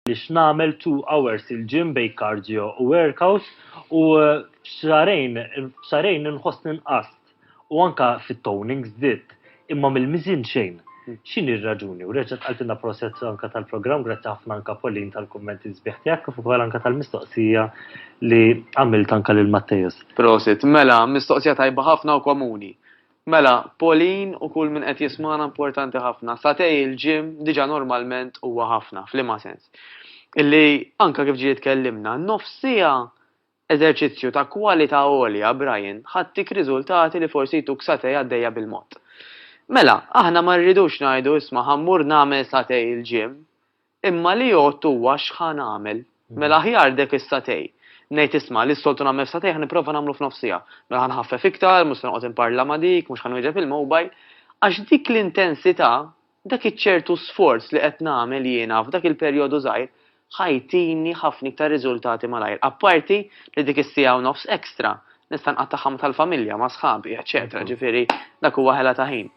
nagħmel two hours il-gym bejn cardio u workout u eh, f'xarejn, f'xarejn nħossni nqast u anka fit-toning żditt. Imma mill-miżien xejn. X'inhi r-raġuni? U reġgħet qaltilna proset anke tal-programm, grazzi ħafna anke Pauline tal-kummenti sbieħ tiegħek kif ukoll anke tal-mistoqsija li għamilt anke lil Matteus. Prosit. Mela, mistoqsija tajba ħafna u komuni. Mela, Pauline u kull min qed jismagħna importanti ħafna. Satej il-gym diġà normalment huwa ħafna, f'liema sens? Illi anke kif ġie tkellimna, nofs siegħa Eżerċizzju ta' kwalità għolja, Brian, ħadtik riżultati li forsi jtuk satè għaddejja bil-mod. Mela, aħna ma rridux ngħidu isma' ħa mmur nagħmel satè il-gym, imma li jgħodd huwa x'ħa nagħmel. Mela aħjar dek is-satè. Ngħid isma' li s-soltu nagħmel f'satè ħa nipprova nagħmlu f'nofs siegħa. Mela ħa nħaffef iktar, mhux se noqgħod inparla ma' dik, mhux ħa nwieġeb il-mobile. Għax dik l-intensità Dak iċ-ċertu sforz li qed nagħmel jiena f'dak il-perjodu żgħir ħa jtini ħafna iktar riżultati malajr. Apparti li dik is-siegħa u nofs extra nista' nqattagħha ma' tal-familja, ma' sħabi, eċċetera ġifieri dak huwa ħela ta' ħin.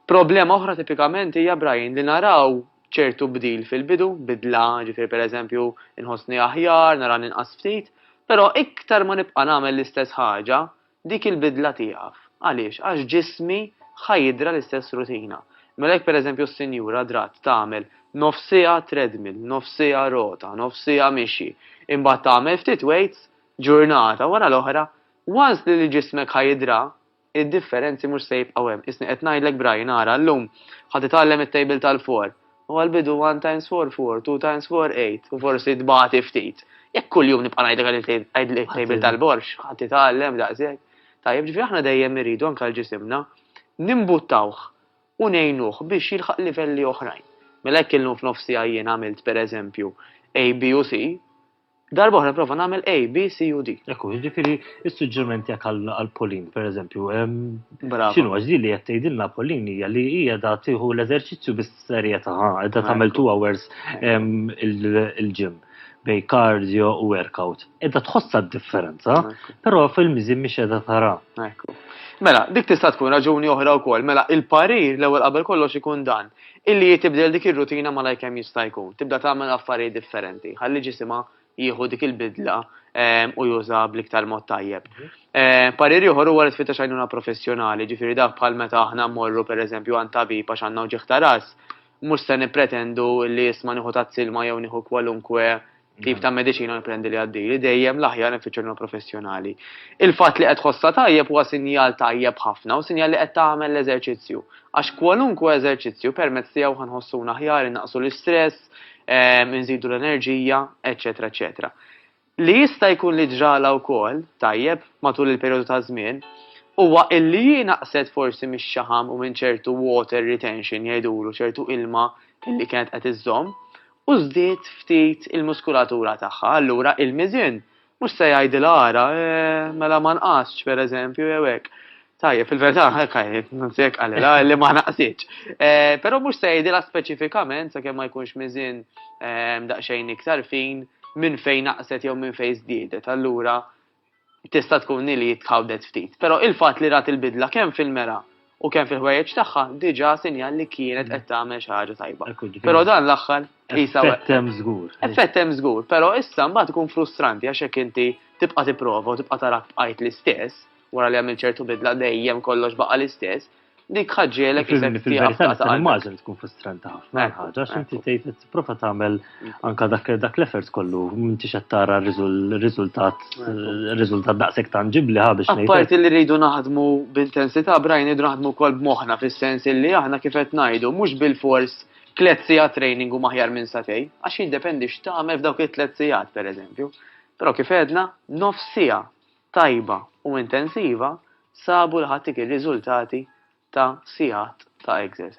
Problema oħra tipikament hija, Brian, li naraw ċertu bdil fil-bidu, bidla, ġifieri pereżempju inħossni aħjar, nara ninqas ftit, però iktar ma nibqa' nagħmel l-istess ħaġa, Dik il-bidla tieqaf. Għaliex? Għax ġismi ħa jidra l-istess rutina. Mela jekk pereżempju s-sinjura dratt tagħmel nofs siegħa treadmill, nofs siegħa rota, nofs siegħa mixi, imbagħad tagħmel ftit weights ġurnata wara l-oħra, once li ġismek ħa jidra, id-differenzi mhux se jibqgħu hemm. Isni qed ngħidlek b'rajn, ara llum ħa titgħallem it-tejbil tal-for, Huwa l-bidu one times four four, two times four eight, u forsi tbati ftit. Jekk kuljum nibqa' ngħidlek għidli t-tejbil tal-borx, ħadd itgħallem daqshekk. Tajjeb, ġifieri aħna dejjem irridu anke għal ġisimna nimbuttawh u ngħinuh biex jilħaq livelli oħrajn. Mela jekk illum f'nofsija jien għamilt pereżempju A, B u C, Darba oħra nipprova nagħmel A, B, C u D. Ekku, jiġifieri s-suġġeriment tiegħek għal Pauline, pereżempju, x'inhu għax din li qed tgħidilna Pauline hija li hija da tieħu l-eżerċizzju bis-serjetà, qiegħda tagħmel two hours il-ġim bej cardio u workout. Edda tħossha d-differenza, però fil-miżin mhix qiegħda tara. Mela, dik tista' tkun raġuni oħra wkoll. Mela, il-parir l-ewwel qabel kollox ikun dan. Illi hi tibdel dik ir-rutina malajr kemm jista' jkun, tibda tagħmel affarijiet differenti, ħalli ġisimha jieħu dik il-bidla ehm, u juża bl-iktar mod tajjeb. Ehm, parir ieħor huwa li tfittex għajnuna professjonali, ġifieri dak bħal meta aħna mmorru pereżempju għand tabib għax għandna ġieħ ta' ras, mhux se nippretendu li jisma' nieħu tazz ilma jew nieħu kwalunkwe tip ta' mediċina nipprendi li għaddili, dejjem l-aħjar nfittxu professjonali. Il-fatt li qed ħossa tajjeb huwa sinjal tajjeb ħafna u sinjal li qed tagħmel l-eżerċizzju. Għax kwalunkwe eżerċizzju permezz tiegħu ħanħossuna aħjar innaqsu l-istress, ehm, inżidu l-enerġija, eċetera, eċetera. Li jista' jkun li ġrala wkoll tajjeb matul il-perjodu ta' żmien huwa illi jinaqset forsi mix-xaħam u minn ċertu water retention jgħidulu ċertu ilma illi kienet qed iżżomm u żdied ftit il-muskulatura tagħha, allura il-miżien mhux se jgħidilha ara, mela ma nqastx, pereżempju, jew hekk. Tajjeb, fil-verità hekk anzi hekk qalilha li ma naqsitx. Però mhux se jgħidilha speċifikament sakemm ma jkunx miżien daqsxejn iktar fin minn fejn naqset jew minn fejn żdiedet, allura tista' tkun hi li tħawdet ftit. Però il-fatt li rat il-bidla kemm fil-mera u kemm fil-ħwejjeġ tagħha diġà sinjal li kienet qed tagħmel xi ħaġa tajba. Però dan l-aħħar qisha Effett hemm żgur. Effett hemm żgur, però issa mbagħad ikun frustranti għax jekk inti tibqa' tipprova u tibqa' tarak bqajt l-istess, wara li għamilt ċertu bidla dejjem kollox baqa' l-istess, Dik ħaġġielek fil-verità nista' nimmaġin tkun frustranti ħafna ħaġa għax inti tgħid qed tipprova tagħmel mm. anke dak dak l-effort kollu m'intix qed tara riżultat riżultat daqshekk tanġibbli ħa biex ngħid. Parti li rridu naħdmu b'intensità brajn idu naħdmu wkoll b'moħħna fis-sens li aħna kif qed ngħidu mhux bil-fors tliet sigħat training u maħjar minn satej, għax jiddependi x'tagħmel f'dawk it-tliet sigħat pereżempju. Però kif għedna, nofs siegħa tajba u intensiva sabu li ħadd irid riżultati ta' sigħat ta' exercise.